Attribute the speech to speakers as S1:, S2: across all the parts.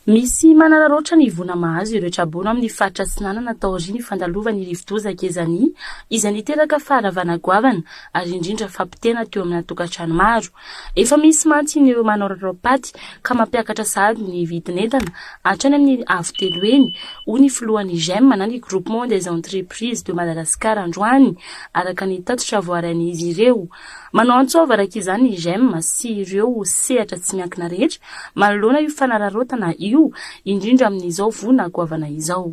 S1: Misy manararaotra ny voina mahazo ireo traboina ao amin'ny faritra Atsinanana taorian'ny fandalovan'ny rivodoza Gezani izay niteraka faharavana goavana ary indrindra fampitehana teo amina tokantrano maro. Efa misy mantsy ny ireo manao raraompaty ka mampiakatra sahady ny vidin'entana hatrany amin'ny avo telo heny, hoy ny filohan'ny GEM na ny Groupement des Entreprises de Madagascar androany, araka ny tatitra voarain'izy ireo. Manao antsôva araka izany i GEM sy ireo sehatra tsy miankina rehetra manoloana io fanararaotana io, indrindra amin'izao voina goavana izao.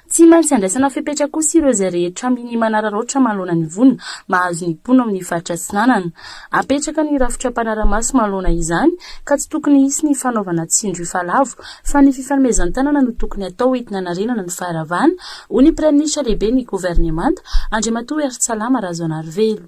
S1: Tsy maintsy andraisana fepetra kosa ireo izay rehetra minia manararaotra manoloana ny voina mahazo ny mpoina ao amin'ny faritra Atsinanana. Apetraka ny rafitra mpanara-maso manoloana izany ka tsy tokony hisy ny fanaovana tsindrifa lavo fa ny fifanomezan-tanana no tokony hatao entina hanarenana ny faharavana, hoy ny Praiminisitra lehiben'ny Governemanta, Andriamatoa Hery Tsalama Razoanarivelo.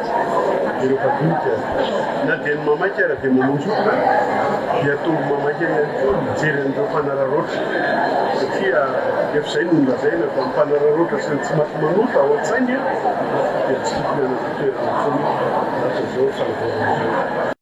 S2: Ireo mpadinika na dia ny mamaky ara dia mamonjy olona dia tonga mamaky eo ihany koa mijery an'ireo mpanararaotra satria efa izay no nolazaina fa ny mpanararaotra sy ny tsy maty manota ao an-tsainy dia tsy tokony hanana toerana intsony raha toa izao fanavaozana izao.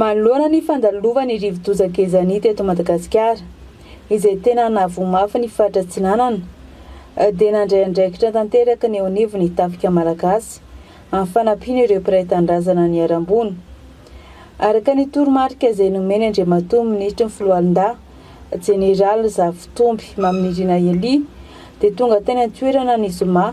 S3: Manoloana
S4: ny fandalovan'ny rivodoza Gezani teto Madagasikara, izay tena nahavoa mafy ny faritra Atsinanana, dia nandray andraikitra tanteraka ny eo anivon'ny Tafika Malagasy amin'ny fanampiana ireo mpiray tanindrazana niharam-boina. Araka ny toromarika izay nomen'i Andriamatoa Minisitry ny Foloalindahy, Jeneraly Zafitomby Maminirina Elie, dia tonga teny an-toerana ny zoma,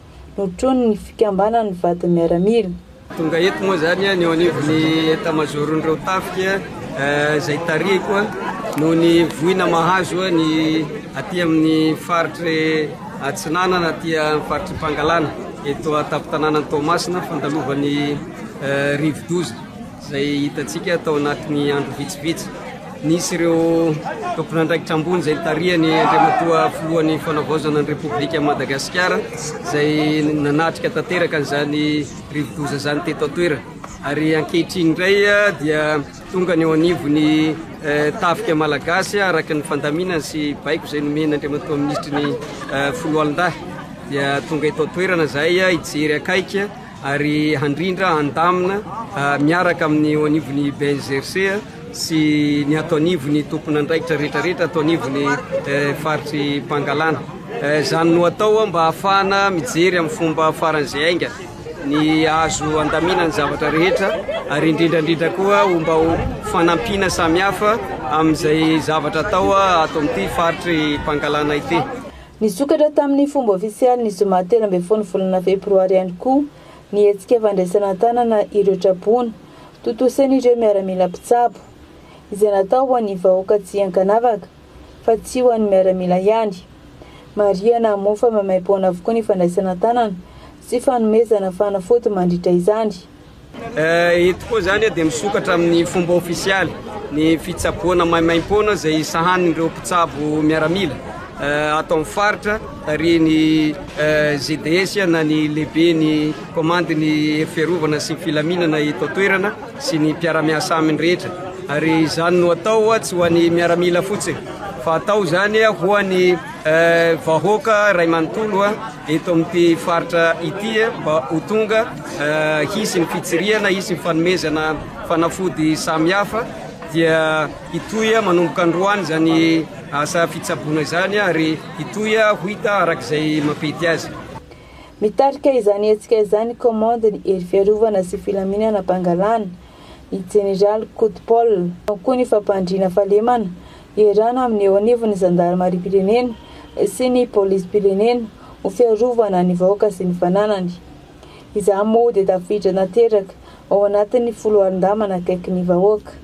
S4: notronin'ny fikambanan'ny vadin'ny miaramila. Tonga eto moa
S5: izany ny eo anivon'ny etamazoron'ireo tafika izay tarihiko noho ny voina mahazo ny aty amin'ny faritry atsinanana aty amin'ny faritry Pangalana eto an-tampon-tanànan'i Toamasina fandalovan'ny rivodoza. izay hitantsika tao anatin'ny andro vitsivitsy. Nisy ireo tompon'andraikitra ambony izay nitarihany Andriamatoa Filohan'ny Fanavaozana ny Repoblika Madagasikara izay nanatrika tanteraka izany rivodoza izany teto an-toerana. Ary ankehitriny indray ah, dia tonga ny eo anivon'ny eh, tafika malagasy ah, araka ny fandaminany sy baiko izay nomena Andriamatoa Minisitry ny eh, Foloalindahy. Dia tonga eto an-toerana izahay ah, hijery akaiky ah, ary handrindra, handamina miaraka amin'ny eo anivon'ny BNGRC sy ny ato anivon'ny tomponandraikitra rehetrarehetra ato anivon'ny eh, faritry Pangalana. Eh, izany no atao mba hahafahana mijery amin'ny fomba faran'izay ainga ny azo andamina ny zavatra rehetra ary indrindraindrindra koa homba ho fanampiana samihafa amin'izay zavatra atao ato amin'ity faritry Pangalana ity. Nisokatra
S4: tamin'ny fomba ofisialy ny zoma telo ambin'ny folo ny volana febroary ihany koa ny hetsika fandraisana an-tanana ireo traboina tontosain'ireo miaramila mpitsabo, izay natao ho an'ny vahoaka tsy ankanavaka fa tsy ho an'ny miaramila ihany. Marihana moa fa maimaim-poana avokoa ny fandraisana an-tanana sy fanomezana fanafody mandritra izany.
S5: Eto koa izany dia misokatra amin'ny fomba ofisialy ny fitsaboana maimaim-poana izay sahanin'ireo mpitsabo miaramila ato amin'ny faritra tarihin'ny GDS na ny lehiben'ny komandin'ny hery fiarovana sy ny filaminana eto an-toerana sy ny mpiara-miasa aminy rehetra ary izany no atao tsy ho an'ny miaramila fotsiny fa atao izany ho an'ny vahoaka iray manontolo eto amin'ity faritra ity mba ho tonga hisy ny fitsirihana, hisy ny fanomezana fanafody samihafa dia hitohy manomboka androany izany asa fitsaboana izany ary hitohy ho hita araka izay mapety azy. Mitarika
S4: izany hetsika izany Commande ny Hery Fiarovana sy Filaminana Pangalana, ny Jeneraly Koto Paul, ao koa ny Fampandriana Fahalemana iarahana amin'ny eo anivon'ny Zandarimariam-pirenena sy ny Polisim-pirenena ho fiarovana ny vahoaka sy ny fananany. Izaho moa dia tafiditra nateraka ao anatin'ny foloalindahy manakaiky ny vahoaka.